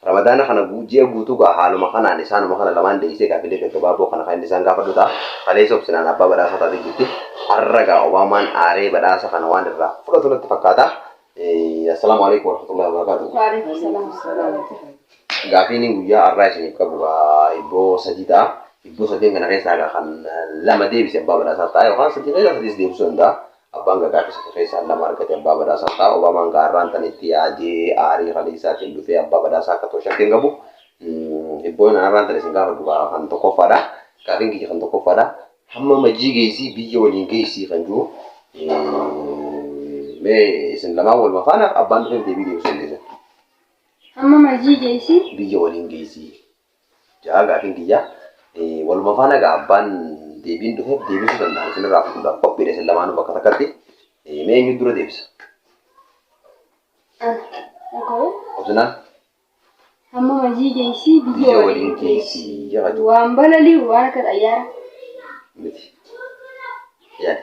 Ramadaana kana ji'a guutuu gaa haaluma kanaan isaanuma kana lamaan deeysee gaafilee gaggabaaboo kana kan inni isaan gaafadhu ta'a. Kaleessa obsinaan abbaa badhaasaa taatee jirti. Har'a gaa Obaamaan aaree badhaasa kana waan irraa fudhatu natti fakkaata. Assalaamu aleykum warahmatullahi wabarakaatuh. Waaleykum salaam warahmatullahi wabarakaatuh. Gaafiin guyyaa har'aa isiniif qabu gaa hibboo sadii ta'a. Hibboo sadeen kana keessaa gaa kan lama deebise abbaa badhaasaa ta'a yookaan sadii keessaa sadiis deebisuu danda'a. Abbaan Gadaa fi Siti keessaan lama argate Abbaa Badhaasaa ta'a. Obaamaan gaa arraan tan itti yaadee aarii ralii isaatiin dhufee Abbaa Badhaasaa akka ta'u shakki hin qabu. Hibbooyin an arraan tan isin gaafadhu gaa kan tokkoffaadha. Gaafiin kiyya kan tokkoffaadha. Hamma majii geessii biyya waliin geessii kan jiru mee isin lamaan waluma faana abbaan dhufeef deebii deebisuu dandeessan. Hamma majii geessii biyya waliin geessii. ja'a gaafiin kiyya. Waluma faana egaa abbaan deebiin dhufeef deebisuu danda'an isinirraa fudhuudhaaf qophiidha isin lamaanuu bakka takkatti. Mee eenyu dura deebisa? Dhaga'u. Obsinaan Amma mazii geessii biyya biyya waliin waliin geessi. geessi jedha jechuudha. Waan balali'u waan akka xayyaara. Miti. Yaada.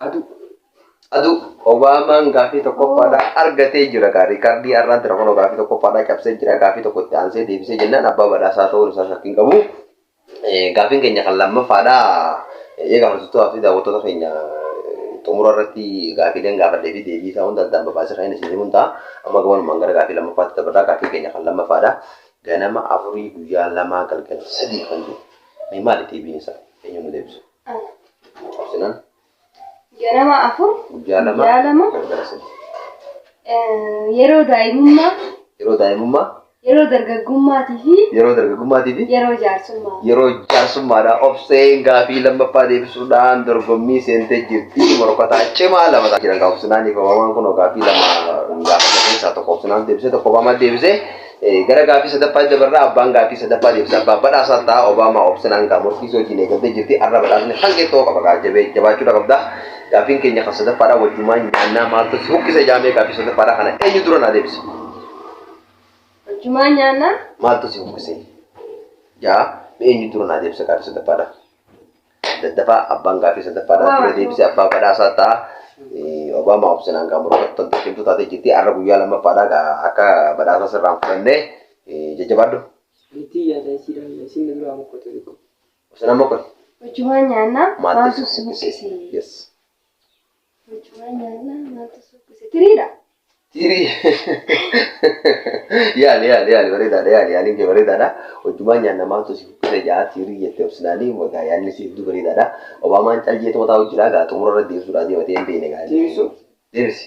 Aduu. Aduu. Obaamaan gaafii tokkoffaadhaa argatee jira kaa riikardii har'aa jira kunoo gaafii tokkoffaadhaa cabsee jira gaafii tokko itti aansee deebisee jennaan abbaa badhaasaa ta'uun isaa shakkiin qabu. Gaafiin keenya kan lammaffaadhaa eegaa hordoftoota fi daawwattoota keenya xumura irratti gaafiileen gaafadhee fi deebii isaa hunda addaan babaasee kan isin himuun ta'a. Amma gabanumaan gara gaafii lammaffaatti dabarraa gaafii keenya kan lammaffaadhaa. Ganama afurii guyyaa lamaa galgala sadii kan jiru. Mee maali deebiin isaa? Eenyu nu deebisa? Cobsina. Ganama afur Guyyaa lama. guyyaa lama Galgala sadii. eh, yeroo daa'imummaa Yeroo daa'imummaa, yeroo dargaggummaatii fi yeroo dargaggummaatii fi yeroo jaarsummaa. yeroo jaarsummaadhaa obseen gaafii lammaffaa deebisuudhaan dorgommii seentee jirti. Morkataa cimaa lama ta'a. Jiran obsinaan ibamamaan kun gaafii lama gaafata keessaa tokko obsinaan deebisee tokko obamaa deebisee Gara gaaffii sadaffaatti dabarra abbaan gaaffii sadaffaa deebisa abbaa badhaasaa ta'a Obaamaa obsinaan gaa morkiisii wajjin eegaltee jirti har'a badhaasni hangee ta'uu qaba gaa jabee jabaachuudha qabda gaaffiin keenya kan sadaffaadhaa wajjumaa nyaannaa maaltu si buqqisa ijaamee gaaffii sadaffaadhaa kana eenyu dura naa deebisa Wajjumaa nyaannaa maaltu si buqqise jaa eenyu dura naa deebisa gaaffii sadaffaadhaa. Daddafa abbaan gaaffii sadaffaadhaan ture deebise abbaa badhaasaa ta'a. Obaamaa obsinaan gaa morkattan tokkimtuu taatee jirti. Har'a guyyaa lammaffaadhaa gaa akka badhaasaa sirraan fudhannee jajjabaadhu. Itti yaada isiidhaan isin duraa mokkota tokko. Obsinaan mokkoti. Wajjumaan nyaannaa Maaltu maaltu si si buqqise? buqqise? Yes. Mucaa nyaannaa maaltu suukkise? Tiriidha. Tiri. Yaali yaali yaali bareedaadha yaali yaaliin kee bareedaadha. Hojjumaan nyaanna maaltu si fukkise ja'a tirii jettee obsinaanii wagaa yaadni si hedduu bareedaadha. Obaamaan cal jeetu mataa hojjiraa gaa xumura irra deebisuudhaa deematee hin beekne gaa. Deebisuu. Deebisi.